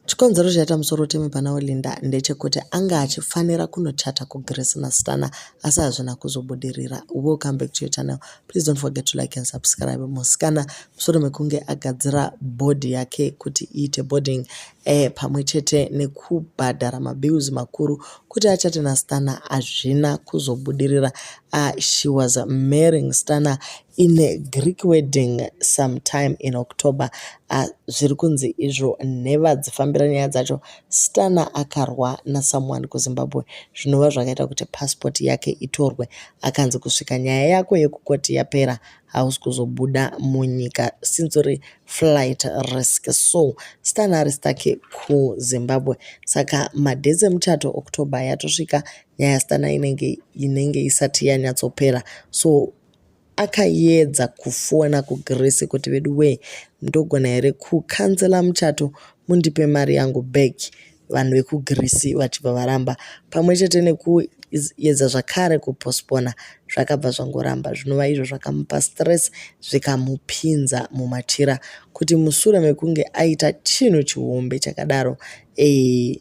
Chikonzero chaita musoro uteme pana Olinda ndechekuti anga achifanira kunochata kuGrace naStana asi hazvina kuzobudirira. We'll come back to your channel. Please don't forget to like and subscribe. Musikana musoro mekunge agadzira body yake kuti iite boarding eh, pamwe chete nekubhadhara mabills makuru kuti achate naStana hazvina kuzobudirira. Uh, she was marrying Stana In the Greek wedding sometime in October uh, zviri kunzi izvo nheva dzifambira nyaya dzacho Stana akarwa nasomeone kuZimbabwe zvinova zvakaita kuti passport yake itorwe akanzi kusvika nyaya yako yekukoti yapera hausi kuzobuda munyika since uri flight risk so Stana ari stake kuZimbabwe saka madhesi emuchato October yatosvika nyaya Stana inenge inenge isati yanyatsopera so akayedza kufona kugrace kuti vedu wee ndogona here kukanzela muchato mundipe mari yangu back vanhu vekugreece vachibva varamba pamwe chete nekuyedza zvakare kupospona zvakabva zvangoramba zvinova izvo zvakamupa stress zvikamupinza mumachira kuti musure mekunge aita chinhu chihombe chakadaro ee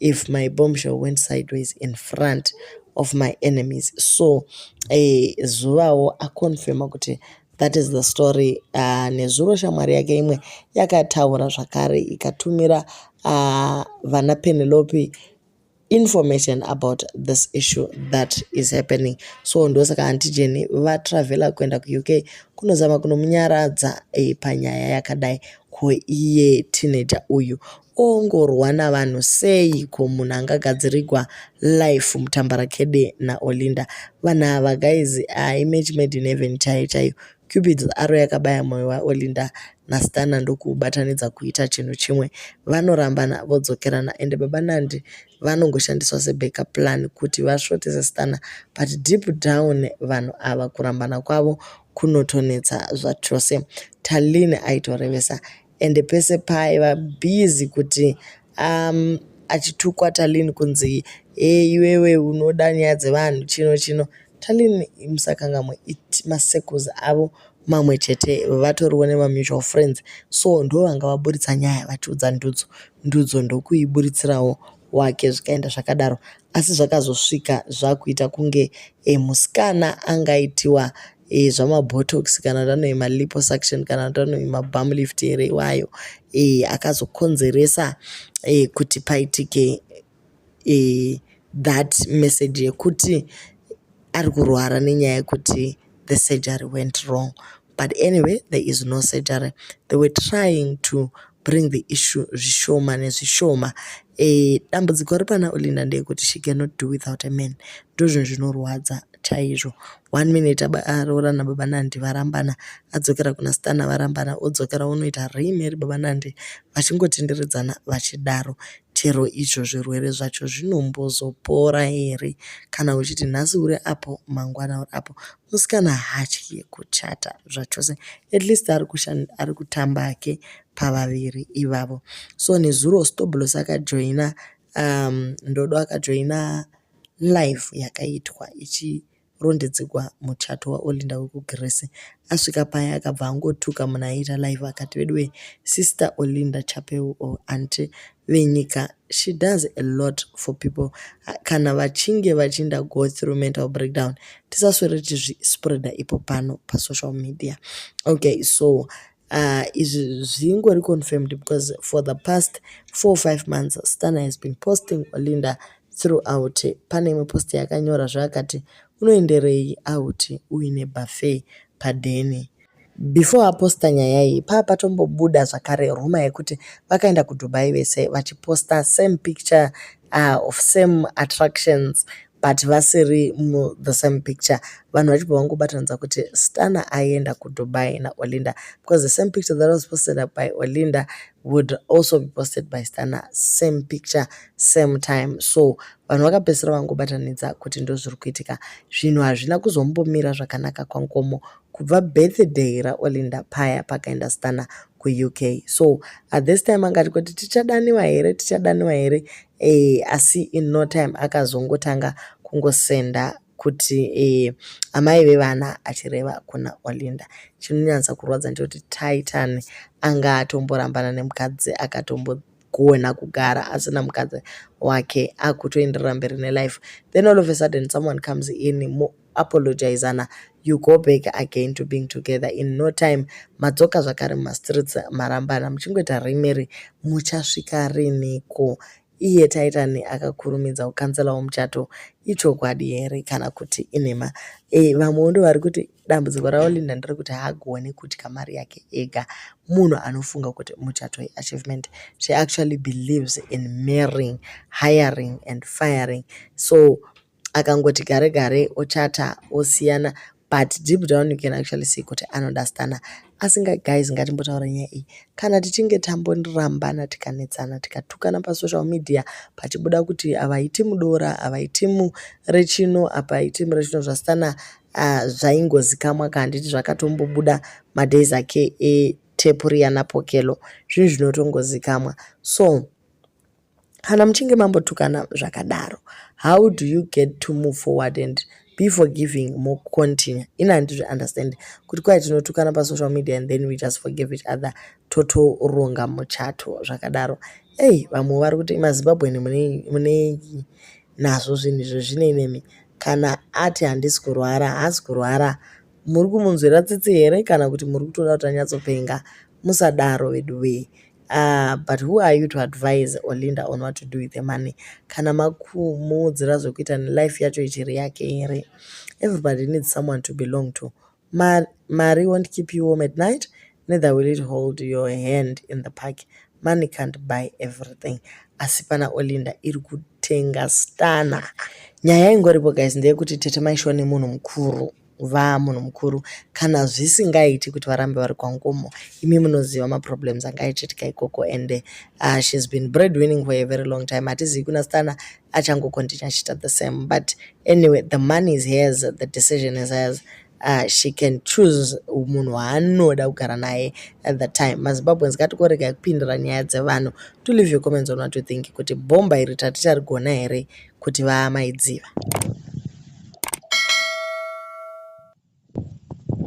if my bombshell went sideways in front of my enemies so eh, zuvawo aconfirma kuti that is the story uh, nezuro shamwari yake imwe yakataura zvakare ikatumira uh, vana penelope information about this issue that is happening so ndosaka antijeni vatravela kuenda kuuk kunozama kunomunyaradza e, panyaya yakadai ko iye teenager uyu ongorwa navanhu sei ko munhu angagadzirigwa life mutambarakede naolinda vanhu ava guys uh, image made in heaven chaiyo chaiyo cupids aro yakabaya mwoyo waolinda nasitana ndokuubatanidza kuita chinhu chimwe vanorambana vodzokerana ende baba nandi vanongoshandiswa sebackup plan kuti vasvotese sitana but deep down vanhu ava kurambana kwavo kunotonetsa zvachose talin aitorevesa ende pese paaiva busy kuti um, achitukwa talin kunzi e iwewe unoda nyaya dzevanhu chino chino talin musakangamwe it masecus avo mamwe chete vatoriwo nemamutual friends so ndo vanga vaburitsa nyaya vachiudza ndudzo ndudzo ndokuiburitsirawo wake zvikaenda zvakadaro asi zvakazosvika zvakuita kunge e, musikana angaitiwa e, zvamabotox kana kuti anove maliposuction kana kuti anove mabam lift here iwayo e, akazokonzeresa e, kuti paitike e, that message yekuti ari kurwara nenyaya yekuti the surgery went wrong but anyway there is no surgery they were trying to bring the issue zvishoma nezvishoma e, dambudziko ripana ulinda ndeyekuti she cannot do without a man ndozvinhu zvinorwadza chaizvo one minute aroorana baba nandi varambana adzokera kuna stana varambana odzokera unoita reimeri baba nandi vachingotenderedzana vachidaro chero izvo zvirwere zvacho zvinombozopora here kana uchiti nhasi uri apo mangwana uri apo musikana haatye kuchata zvachose at least ari kushanda ari kutamba hake pavaviri ivavo so nezuro stoblos akajoina um, ndodo akajoina live yakaitwa ichi rondedzegwa muchato waolinda wekugrece asvika paya akabva angotuka munhu aiita live akati veduwe sister olinda chapeu o anti venyika she does a lot for people kana vachinge vachinda go through mental breakdown tisaswere tizvispreader ipo pano pasocial media okay so uh, izvi zvingori confirmed because for the past four five months stana has been posting olinda throughout pane imwe post yakanyora zvaakati unoenderei auti uine buffet padheni Before aposta nyaya iyi paa patombobuda zvakare rumor yekuti vakaenda kuDubai vese vachiposta same picture uh, of same attractions but vasiri mu the same picture vanhu vachibva vangobatanidza kuti stana aenda kudubai naolinda because the same picture that was posted up by olinda would also be posted by stana same picture same time so vanhu vakapedzisira vangobatanidza kuti ndozviri kuitika zvinhu hazvina kuzombomira zvakanaka kwankomo kubva birthday raOlinda paya pakaenda Stana kuUK so at this time angati kuti tichadaniwa here tichadaniwa here eh, asi in no time akazongotanga kungosenda kuti eh, amai vevana achireva kuna Olinda chinonyatsa kurwadza ndechekuti Titan anga atomborambana nemukadzi akatombo kugona kugara asina mukadzi wake akutoenderera mberi nelife then all of a sudden someone comes in mo apologizana you go back again to being together in no time madzoka zvakare mumastreets marambana muchingoita rimiri muchasvika riniko iye taitani akakurumidza kukanselawo muchato ichokwadi here kana kuti inhema e, vamwewo ndo vari kuti Dambudziko raOlinda nderekuti haagone kudya mari yake ega. Munhu anofunga kuti muchato iachievement. She actually believes in marrying, hiring and firing. So akangoti gare gare ochata osiyana but deep down you can actually see kuti anoda stana asinga guys ngatimbotaura nyaya iyi kana tichinge tambondirambana tikanetsana tikatukana pasocial media pachibuda kuti avaiti mudora avaiti murechino apaiti murechino zvasitana uh, zvaingozikamwa ka handiti zvakatombobuda madays ake etepu riya napokelo zvinhu zvinotongozikamwa so kana muchinge mambotukana zvakadaro how do you get to move forward and be forgiving more continue ini handizvi understand kuti kwai tinotukana pasocial media and then we just forgive each other totoronga muchato zvakadaro ei vamwe vari kuti mazimbabweni munei nazvo zvinhu izvozvino imimi kana ati handisi kurwara haasi kurwara muri kumunzwira tsitsi here kana kuti muri kutoda kuti anyatsopenga musadaro vedu wee uh, but who are you to advise olinda on what to do with the money kana makumuudzira zvekuita nelife yacho ichiri yake here everybody needs someone to belong to Mar Mari won't keep you warm at night, neither will it hold your hand in the park. Money can't buy everything. Asi pana Olinda iri kutenga stana. Nyaya ingoripo guys ndeyekuti tete maishiwa nemunhu mukuru vaa munhu mukuru kana zvisingaiti kuti varambe vari kwangomo imi munoziva maproblems angaichitika ikoko and uh, she's been bread winning for a very long time hatizivi kuna stana achangokontinue achiita the same but anyway the money is hers the decision is hers uh, she can choose munhu waanoda kugara naye at the time mazimbabweans ngatikorega kupindira nyaya dzevanhu to leave your comments on what you think kuti bhomba iri taticharigona here kuti vaamaidziva